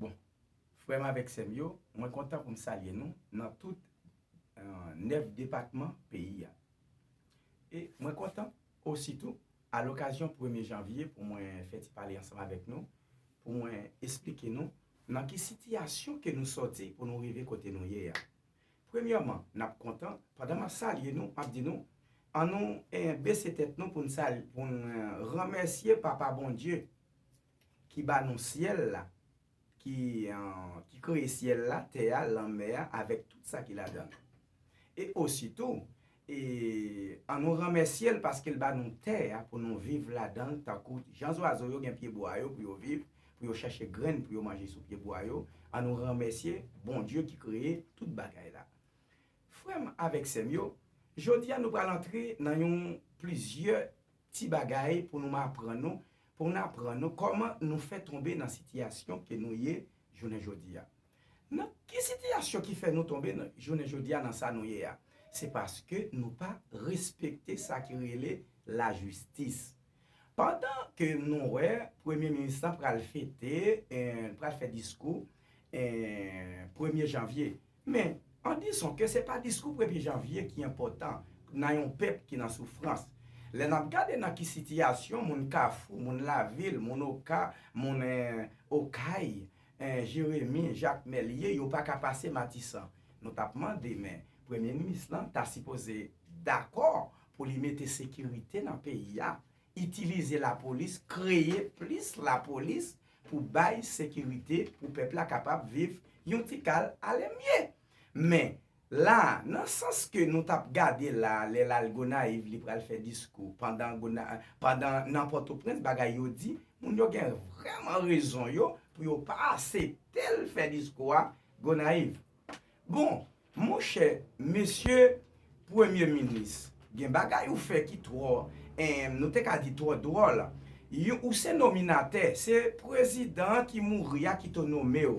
Bon, frè m avèk sè m yo, mwen kontan pou m salye nou nan tout 9 depatman peyi a. E mwen kontan osi tou, alokazyon premye janvye pou mwen fè ti pale ansanm avèk nou, pou mwen esplike nou nan ki sitiyasyon ke nou sòti pou nou rive kote nou ye a. Premyèman, n ap kontan, pandan m ap salye nou, m ap di nou, An nou bese tèt nou pou n salye, pou n renmèsye Papa Bondye ki ba nou syèl la, ki kreye syèl la, tè a, lanmè a, avèk tout sa ki ladan l. E ositou, E an nou renmèsye l paske l ba nou tè a pou nou viv ladan l tankou jan zwazo yo gen pyebwa yo pou yo viv, pou yo chèche grenn pou yo manje sou pyebwa yo, an nou renmèsye Bondye ki kreye tout bagay la. Frè m avèk sè m yo, jodi a nou pral antre nan yon plizyè ti bagay pou nou m aprann nou, pou n aprann nou kòman nou fè tonbe nan sitiyasyon ke nou ye jounen jodi a. Nan ki sitiyasyon ki fè nou tonbe jounen jodi a nan sa nou ye a? Se paske nou pa respekte sa ki rele lajistis. Pandan ke nou wè premye minis lan pral fete, pral fè diskou premye janvye. Men, an dison ke se pa diskou premye janvye ki enpòtan nan yon pèp ki nan soufrans. Lè n ap gade nan ki sitiyasyon moun Kafou, moun Lavil, moun Oka, moun Okay, Eh Jeremi jak mèlye yo pa ka pase matisan nou tap mande men premye minis lan ta sipoze dakò pou li mete sekirite nan peyi a itilize lapolis kreye plis lapolis pou bay sekirite pou pèp la kapab viv yon tikal alemye men La, nan sans ke nou tap gade la, lè lal Gonayiv li pral fè diskou, pandan gona, pandan nan Pòtoprens bagay yo di, moun yo gen vrèman rezon yo pou yo pa aseptel fè diskou a Gonayiv. Bon, monchè, mesye Premye Minis, gen bagay ou fè ki twò, en, nou te ka di twò dwòl. Yon, ou se nominatè, se Prezidan ki mouri a ki to nomew.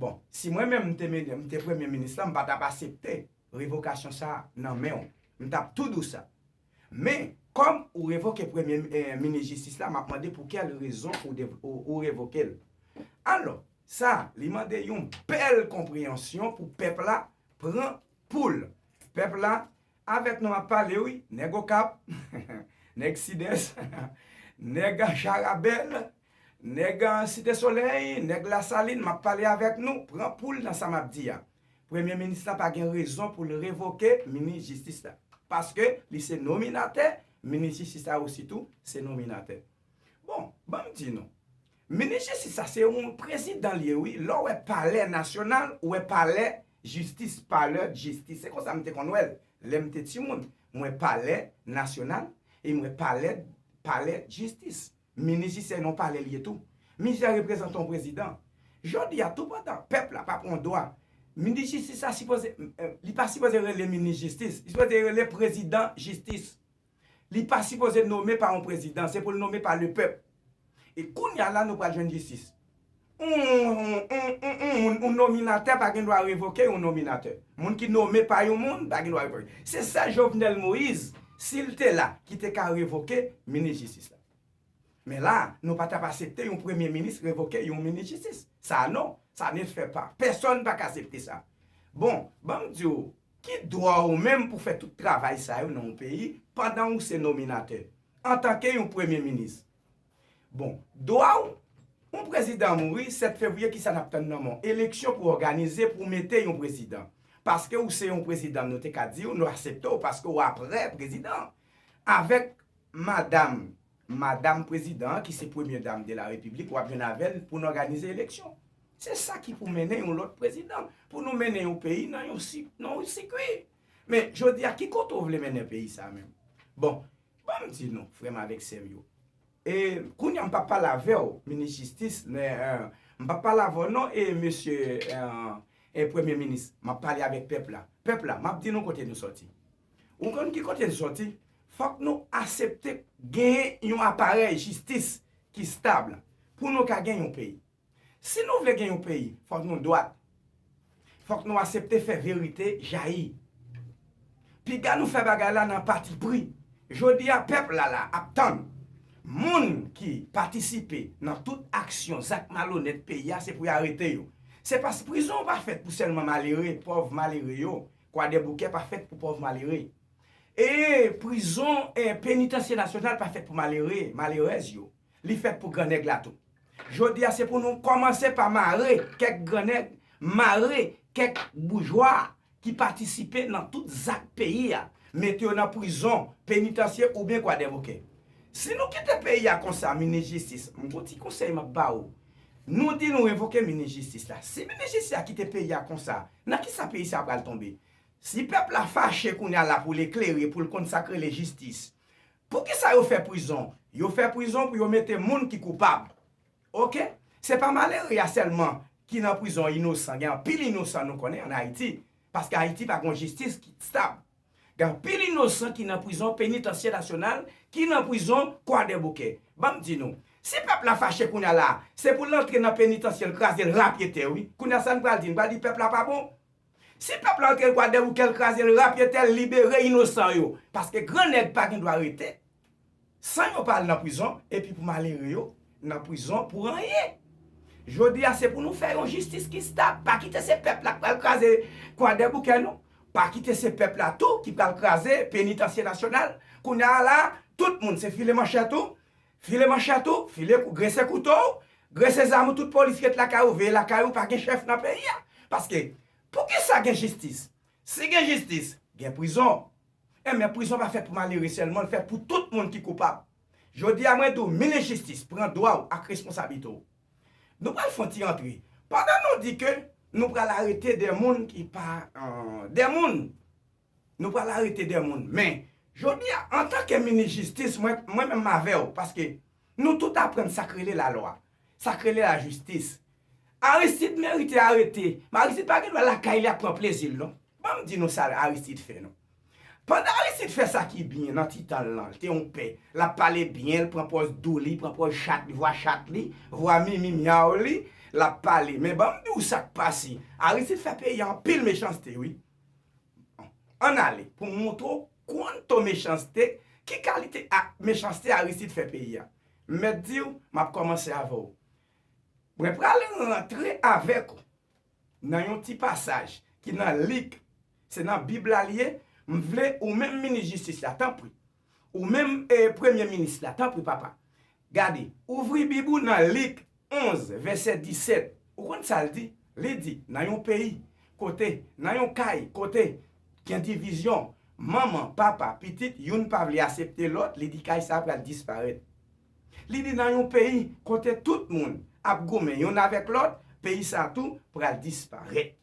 Bon, si mwen menm m te mene, m te premye minis la, m pa tap asepte revokasyon sa a nan men w. M tap tou dou sa. Men, kòm ou revoke premye minis jistis la, m ap mande pou kèl rezon ou revoke l. Alò, sa a, li mande yon bèl konpreyansyon pou pèp la pran poul. Pèp la, Avèk nou ap pale wi nèg okap nèg sidès nèg jarabèl nèg site solèy nèg lasalin map pale avèk nou pran poul nan sa map di a premye minis la pa gen rezon poul revoke minis jistis la paske li se nominatè minis jistis la osi tou se nominatè bon banm di nou Minis jistis sa se yon prezidan li ye wi lè w wè palè nasyonal ou wè palè jistis palè d'jistis se konsa m te konn wè l lè m te timoun m wè palè nasyonal e m wè palè palè d'jistis minis jistis se yon palè li ye tou minis la reprezante yon prezidan jodi a toupantan pèp la pa pran dwa minis jistis sa sipoze li pa sipoze rele minis jistis li sipoze rele prezidan jistis. Li pa sipoze nome pa yon prezidan, se pou l nome pa le pèp. E kounya la nou pral jwenn jistis. Yon nominatè pa gen dwa revoke yon nominatè. Moun ki nome pa yon moun pa gen dwa revoke. Se sèl Jovenel Moïse, si l te la, ki te ka revoke minis jistis la. Men la, nou pa t ap asepte yon premye minis revoke yon minis jistis. Sa non, sa ne se fè pa. Pèsòn pa ka asepte sa. Bon, ban m di w, Ki dwa ou menm pou fè tout travay sa yo nan yon peyi pandan ou se nominatè, antanke yon premye minis? Bon, dwa ou? Yon prezidan mouri 7 fevriye kisa nap tann nan men w? Eleksyon pou òganize pou mete yon prezidan. Paske ou se yon prezidan nou te ka di w nou asepte w paske ou aprè prezidan. Avèk madam Madam prezidan ki se premye dam de la repiblik wap jwenn avèl pou n òganize eleksyon se sa ki pou mennen yon lòt prezidan pou nou mennen yon peyi nan yon sikwi men jodi a ki kote ou vle mennen peyi sa menm bon ban m di nou frè m avèk sè m yo e kounye a m pap pale avè w minis jistis m pap pale avè w non e mesye premye minis m ap pale avèk pèp la pèp la m ap di nou kote nou sòti Ou konn ki kote l soti? Fòk nou asepte genyen yon aparèy jistis ki stab pou nou ka gen yon peyi. Si nou vle gen yon peyi, fòk nou dwat. Fòk nou asepte fè verite jayi. Piga nou fè bagay la nan patipri. Jodi a pèp la la ap tann. Moun ki patisipe nan tout aksyon zak malonèt peyi a se pou y arete yo. Se pas prizon pa fèt pou sèlman malere, pòv malere yo, Kwadèboukè pa fèt pou pòv malere. E prizon penitansye nasyonal pa fèt pou malere, malerèz yo. Li fèt pou gran nèg la tou. Jodi a se pou nou kòmanse pa mare kèk gran nèg, mare kèk boujwa ki patisipe nan tout zak peyi a, mete yo nan prizon penitansye oubyen kwadèboukè. Si nou kite peyi a konsa, minis jistis, m gon ti konsèy m ap ba ou, Nou di nou revoke minis jistis la. Si minis jistis la kite peyi a konsa, nan kisa peyi sa a pral tonbe? Si pèp la fache kounye a la pou l eklere, pou l konn sa k rele jistis. Poukisa yo fè prizon? Yo fè prizon pou yo mete moun ki koupab. Ok. Se pa malere a sèlman ki nan prizon inosan. Gen anpil inosan nou konnen an Ayiti. Paske Ayiti pa gen yon jistis ki stab. Gen anpil inosan ki nan prizon Penitansye Nasyonal ki nan prizon Kwadèboukè. Ban m di nou, si pèp la fache kounye a la a, se pou l antre nan penitansye l kraze l rapye tè wi. Kounye a sa n pral di? N pral di pèp la pa bon? Si pèp la antre Kwadèboukè l kraze l rapye tè l libere inosan yo. Paske gran nèg pa gen dwa rete. San yo pa al nan prizon epi pou malere yo nan prizon pou anyen. Jodi a se pou nou fè yon jistis ki stab, pa kite se pèp la k pral kraze kwadèboukè nou, pa kite se pèp la tou ki pral kraze penitansye nasyonal. Kounya a la tout moun se file manchèt ou, file manchèt ou, file grese kouto w, grese zam ou tout polis ret lakay ou veye lakay ou pa gen chèf nan peyi a. Paske poukisa gen jistis? Si gen jistis, gen prizon. E men prizon pa fèt pou malere sèlman, l fèt pou tout moun ki koupab. Jodi a mwen di w minis jistis pran dwa w ak responsablite w. Nou pral fè yon ti antre. Pandan nou di ke nou pral arete de moun ki pa de moun, nou pral arete de moun men jodi a antan ke minis jistis mwen menm m avè w paske Nou tout aprann sak rele la lwa, sak rele la jistis. Aristide merite arete, men Aristide pa gen dwa lakay li ap pran plezi l non. Ban m di nou sa Aristide fè non. Pandan Aristide fè sa ki byen nan ti tan l lan, l te yon pè, l ap pale byen, l pran pòz dou li, pran pòz chat li, vwa chat li, vwa mimi myaw li, l ap pale. Men ban m di w sak pase, Aristide fè peyi a anpil mechanste wi. An n ale pou m montre w kuanto mechanste, ki kalite ak mechanste Aristide fè peyi a. M mèt di w, m ap kòmanse avè w. Mwen pral rantre avèk ou nan yon ti pasaj ki nan lig, se nan bib la li ye, m vle ou menm minis jistis la, tanpri, Ou menm e premye minis la, tanpri papa, gade, ouvri Bib ou nan Lik 11, vèsè 17. Ou konn sa l di? Li di, nan yon peyi, kote, nan yon kay, kote, gen divizyon, manman, papa, pitit, youn pa vle asepte lòt, li di kay sa a pral disparèt. Li di nan yon peyi, kote tout moun ap goumen youn avèk lòt, peyi sa a tou pral disparèt.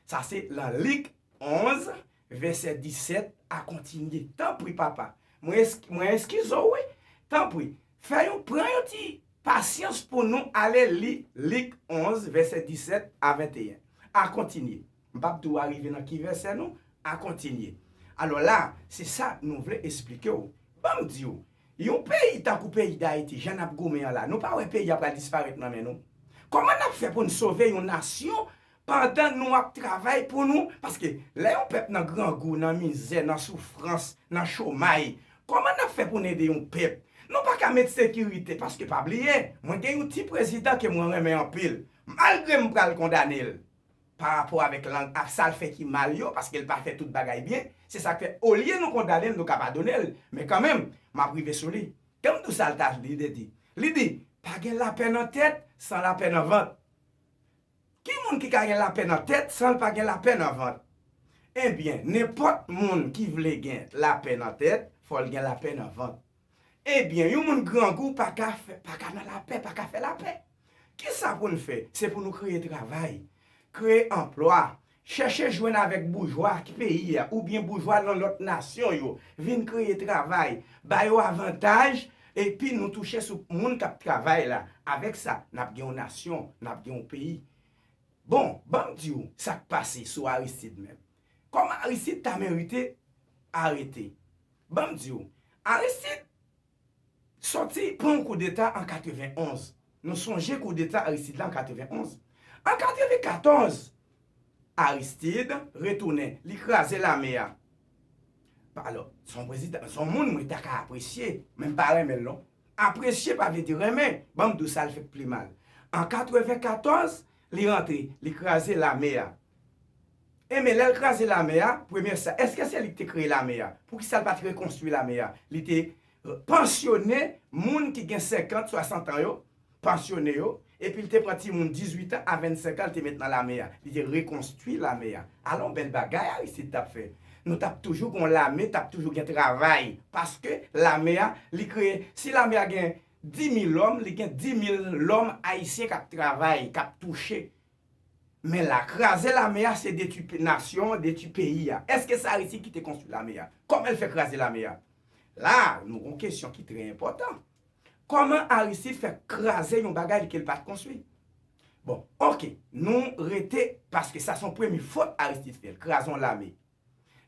Sa se lan Lik 11, Vèsè 17 a kontinye. Tanpri, papa. Mwen, mwen eskize w wi. Tanpri, fè yon, pran yon ti pasyans pou nou ale li Lik 11, vèsè 17 a 21. A kontinye. M p ap di w arive nan ki vèsè non. A kontinye. Alò la, se sa nou vle esplike w. Ban m di w, yon peyi tankou peyi Dayiti, jan n ap goumen an la, nou pa wè peyi a pral disparèt nan men nou? Kòman n ap fè pou n sove yon nasyon Pandan nou ap travay pou nou, paske lè yon pèp nan grangou, nan mizè, nan soufrans, nan chomay, kòman n ap fè pou n ede yon pèp? Nou pa ka met sekirite, paske pa bliye, mwen gen yon ti prezidan ke mwen renmen anpil, malgre m pral kondane l pa rapò avèk lang ak sa l fè ki mal yo, paske l pa fè tout bagay byen, se sa k fè olye nou kondane l, nou ka padone l, men kanmenm, m ap rive sou li. Ganmdou sa l ta vle di, li di, pa gen lapè nan tèt san lapè nan vant. Ki moun ki ka gen lapè nan tèt san l pa gen lapè nan vant? Ebyen, nenpòt moun ki vle gen lapè nan tèt, fò l gen lapè nan vant. Ebyen, yon moun grangou pa ka pa ka nan lapè, pa ka fè lapè. Kisa pou n fè? Se pou nou kreye travay, kreye anplwa, Chèche jwenn avèk boujwa peyi a oubyen boujwa nan lòt nasyon yo, vin kreye travay, ba yo avantaj, epi nou touche sou moun k ap travay la. Avèk sa, n ap gen yon nasyon, n ap gen yon peyi. Bon, ban m di w sa k pase sou Aristide menm. Kòman Aristide ta merite arete? Ban m di w, Aristide Sòti pran yon koudeta an 91, nou sonje koudeta Aristide la an 91. An 94, Aristide retounen, li kraze lame a. Alò, se yon prezidan, se yon moun mwen ta ka apresye, men m pa renmen l non. Apresye pa vle di renmen, ban m di w sa l fè k pi mal. An 94, Li rantre, li kraze lame a. E men, lè l kraze lame a, premye sa, èske se li ki te kreye lame a? Poukisa l pa t rekonstwi lame a? Li te pansyone moun ki gen senkant, swasantan yo, pansyone yo, epi l te pran timoun dizuitan a vennsenkan l te met nan lame a. Li te rekonstwi lame a. Alon, bèl bagay Aristid t ap fè! Nou t ap toujou gen yon lame, t ap toujou gen travay, paske lame a, li kreye. Si lame a gen Di mil lòm, li gen di mil lòm ayisyen kap travay, kap touche. Men la, kraze lame a se detwi nasyon an, detwi peyi a. Eske se Aristide ki te konstwi lame a? Kòman el fè kraze lame a? La, nou gon kesyon ki trè enpòtan. Kòman Aristide fè kraze yon bagay li ke li pat konstwi? Bon, ok, nou rete, paske sa son premye fot Aristide fè, kraze yon lame.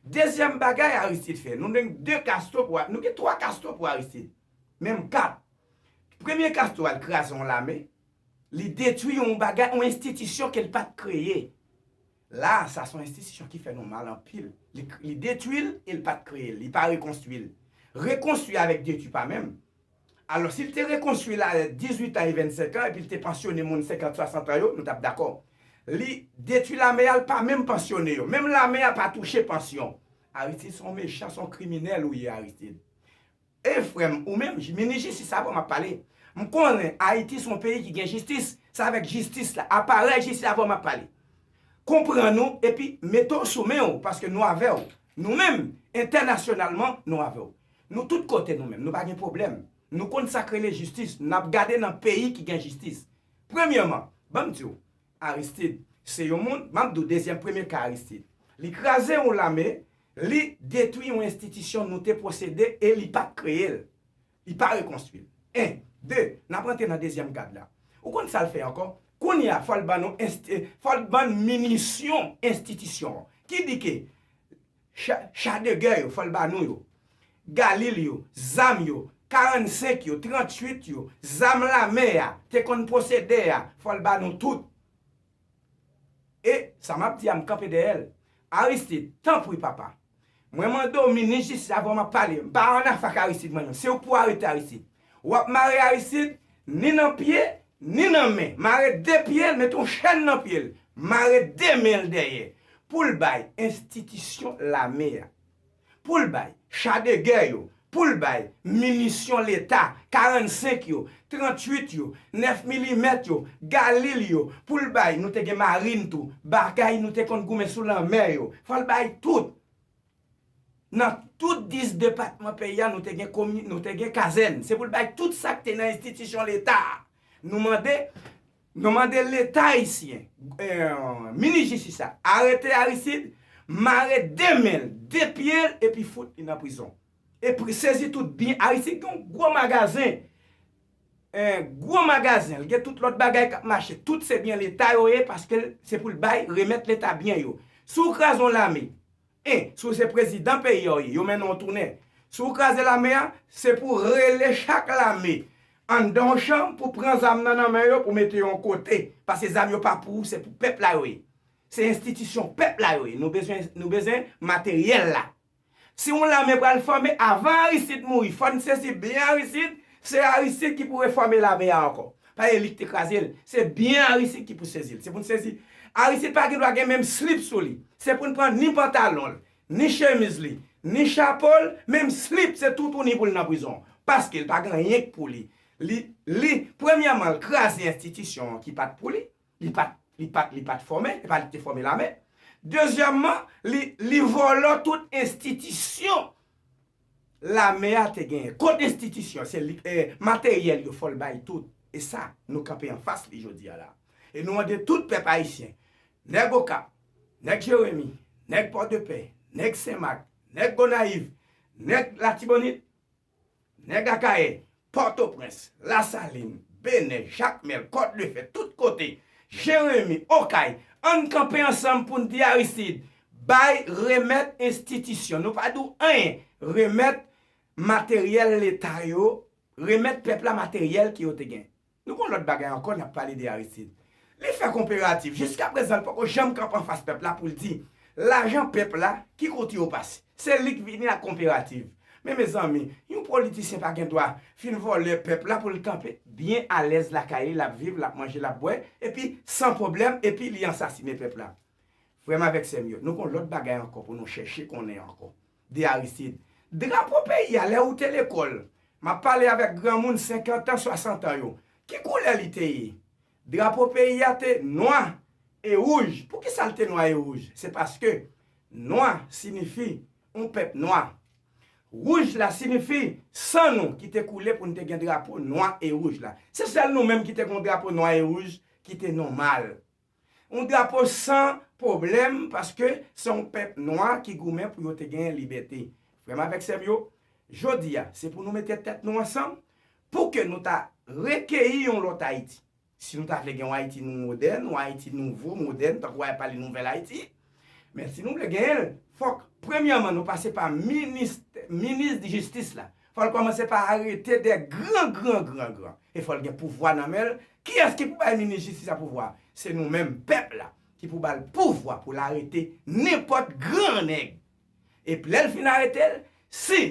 Dezyèm bagay Aristide fè, nou gen 2 kasto pou, nou gen 3 kasto pou Aristide, menm 4. Premye kasto a, li kraze yon lame, li detwi yon bagay, yon enstitisyon ke li pa t kreye. La a, sa se yon enstitisyon ki fè nou mal anpil. Li detwi l e li pa t kreye l, li pa rekonstwi l. Rekonstwi avèk detwi pa menm. Alò, si l te rekonstwi l a lè 18 an e 25 an, epi l te pansyone moun 50, 60 an yo, nou t ap dakò. Li detwi lame a, l pa menm pansyone yo. Menm lame a pa touche pansyon. Aristide son mechan, son kriminèl ou ye Aristide. E frè m, ou menm, minis jistis avan m ap pale. M konnen Ayiti son peyi ki gen jistis. Se avèk jistis la, aparèy jistis avan m ap pale. Konprann ou epi mete w sou men w paske nou avè w. Nou menm, entènasyonalman, nou avè w. Nou tout kote nou menm, nou pa gen pwoblèm. Nou konn sa k rele jistis, n ap gade nan peyi ki gen jistis. Premyèman, ban m di w, Aristid se yon moun, m ap di w dezyèm premye ka Aristid. Li kraze yon lame, li detwi yon enstitisyon nou te pwosede e li pa t kreye l. Li pa rekonstwi l. 1. 2, n ap rantre nan dezyèm kad la. Ou konn sa l fè ankò? Kounye a, fò l ban nou, fò l ban n minisyon enstitisyon an. Ki di ke cha de gè yo, fò l ba nou yo, Galil yo, zam yo, 45 yo, 38 yo, zam lame a te konn posede a, fò l ba nou tout. E, sa m ap di a, m kanpe dèyè l. Aristid, tanpri papa, mwen mande w minis jistis avè w m ap pale, m pa annafè ak Aristid mwen menm, si w pou arete Aristid, Wap mare Aristide ni nan pye ni nan men mare 2 pyel met yon chèn nan pyel mare 2 menl dèyè poul bay enstitisyon lame a poul bay cha de gè yo poul bay minisyon leta 45 yo 38 yo 9 milimèt yo galil yo poul bay nou te gen marine tou bagay nou te konn goumen sou lanmè yo fòl bay tout. Nan tout 10 depatman peyi a nou te gen komi, nou te gen kazèn. Se pou l bay tout sa k te nan enstitisyon Leta a. Nou mande, nou mande Leta ayisyen, minis jistis la, arete Aristide, mare 2 men l, 2 pye l epi fout li nan prizon. E pri, sezi tout byen Aristide gen yon gwo magazen, gwo magazen, l gen tout lòt bagay k ap mache. Tout se byen Leta yo ye paske l, se pou l bay, remèt Leta byen yo. Si w kraze yon lame, 1, Si w se prezidan peyi a w ye, yo mennen w tounen. Si w kraze lame a, se pou w rele chak lame anndan yon chanm pou w pran zam nan nan men yo pou w mete yo yon kote. Pase zam yo pa pou ou, se pou pèp la yo ye. Se enstitisyon pèp la yo ye. Nou bezwen nou bezwen materyèl la. Si yon lame pral fòme avan Aristide mouri, fò n sezi byen Aristide, se Aristide ki pou refòme lame a ankò. Pa ye lik te krazel. Se byen Aristide ki pou sezil. Se pou n sezi. Aristide pa gen dwa gen menm slip sou li. Se pou n pran ni pantalon l, ni chemiz li, ni chapo l, menm slip se toutouni pou l nan prizon. Paske l pa gen anyen k pou li. Li, li, premyèman l kraze enstitisyon ki pat pou li. Li pat li pat li pat fòme, e pa li ki te fòme lame. Dezyèmman, li li vòlò tout enstitisyon lame a te genyen. Kot enstitisyon? Se li e materyèl yo fò l bay tout. E sa, nou kanpe anfas li jodi a la. E nou mande tout pèp ayisyen, nèg Okap, nèg Jeremi, nèg Pòdepè, nèg Senmak, nèg Gonayiv, nèg Latibonit, Nèg Akayè, Pòtoprens, Lasalin, Benè, Jakmèl, Kòdlefè, tout kote, Jeremi, Okay, ann kanpe ansanm pou n di Aristid, bay, remèt enstitisyon, nou pa di w anyen, remèt materyèl Leta yo, remèt pèp la materyèl ke yo te gen. Nou gen yon lòt bagay ankò n ap pale de Aristide. Li fè konperativ. Jiska prezan l poko janm kanpe anfas pèp la pou l di lajan pèp la ki kote yo pase. Se li k vini ak konperativ. Men mezanmi, yon politisyen pa gen dwa fin vòlè pèp la pou l kanpe. Byen alèz lakay li, l ap viv, l ap manje, l ap bwè, epi san pwoblèm, epi li ansasinen pèp la. Frè m avèk sè m yo, nou gen yon lòt bagay ankò pou nou chèche konnen ankò. de Aristide. Drapo peyi a lè ou te lekòl, m ap pale avèk granmoun senkantan, swasantan yo, ki koulè li te ye? Drapo peyi a te nwa e wouj. Poukisa l te nwa e wouj? Se paske nwa sinifi yon pèp nwa. Wouj la sinifi san nou ki te koule pou n te gen drapo nwa e wouj la. Se sèl nou menm ki te gen yon drapo nwa e wouj ki te nòmal. Yon drapo san pwoblèm paske se yon pèp nwa ki goumen pou yo te gen libète. Frè m avèk sè m yo, jodi a, se pou nou mete tèt nou ansanm pou ke nou ta rekeyi yon lòt Ayiti. Si nou ta vle gen yon Ayiti nou modèn, yon Ayiti nouvo, modèn, tankou a pale nouvèl Ayiti, men si nou vle genyen l, fòk premyèman nou pase pa minis, minis jistis la. Fòl kòmanse pa arete dè gran gran gran gran e fòl gen pouvwa nan menl kiyès ki pou bay minis jistis a pouvwa se nou menm pèp la ki pou bal pouvwa poul arete nenpòt gran nèg ep lèl fin aretel si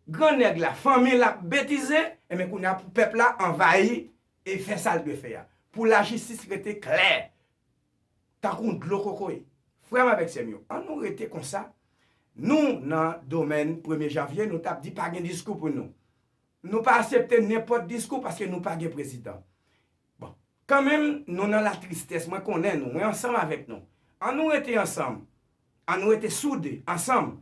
gran nèg la fanmil ap betize enben kounya pou pèp la anvayi e fè sal dwe fè a pou lajistis rete klè Tankou yon dlo kokoye. Frè m avèk sè m yo, an nou rete konsa, nou nan domèn premye janvye nou tap di pa gen diskou pou nou. Nou pa asepte nenpòt diskou paske nou pa gen prezidan. Bon, kan menm nou nan la tristès, mwen konnen nou, mwen ansanm avèk nou. An nou rete ansanm, an nou rete soude ansanm,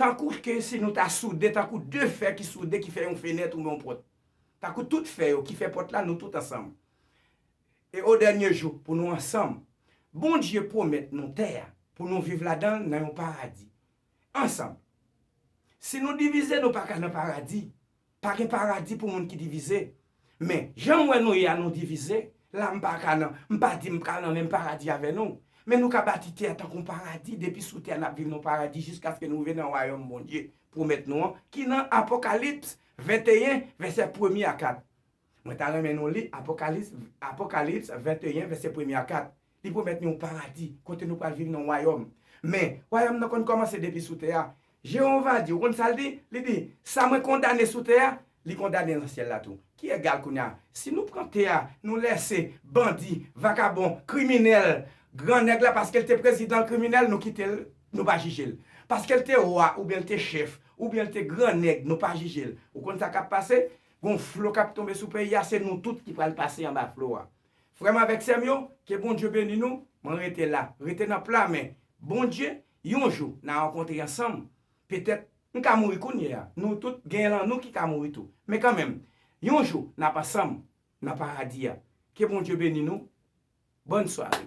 tankou ke si nou ta soude tankou de fè ki soude ki fè yon fenèt ou yon pòt. Tankou tout fè yo ki fè pòt la nou tout ansanm. E o dènye jou pou nou ansanm, Bondye pwomèt nou tè a pou nou viv ladan l nan yon paradi. Ansanm. Si nou divize nou pa ka nan paradi. Pa gen paradi pou moun ki divize. Men, jan m wè nou ye a nou divize, la m pa ka nan, m pa di m pral nan menm paradi avè nou. Men nou ka bati tè a tankou yon paradi, depi sou tè a n ap viv nan paradi jiskaske nou rive nan wayòm Bondye pwomèt nou an ki nan Apokalips 21 vèsè premye a 4. Mwen ta renmen nou li Apokalips, Apokalips 21, vèsè premye a 4. Li pwomèt nou yon paradi, kote nou pral viv nan yon wayòm. Men, wayòm nan konn kòmanse depi sou tè a. Jewova di, ou konn sa l di? Li di, Sa mwen kondane sou tè a, li kondane nan syèl la tou. Ki egal kounye a, si nou pran tè a, nou lèse bandi, vakabon, kriminèl, gran nèg la paske l te prezidan l kriminèl, nou kite l, nou pa jije l. Paske l te wa oubyen l te chèf, oubyen l te gran nèg, nou pa jije l. Ou konn sa k ap pase? Gon flo kap tonbe sou peyi a se nou tout ki pral pase anba flo a frèm avèk sèm yo ke Bondye beni nou mwen rete la rete nan pla men Bondye yon jou na rankontre ansanm petèt m ka mouri kounye a nou tout gen lan nou ki ka mouri tou men kanmenm yon jou nap ansanm nan paradi a ke Bondye beni nou bòn sware.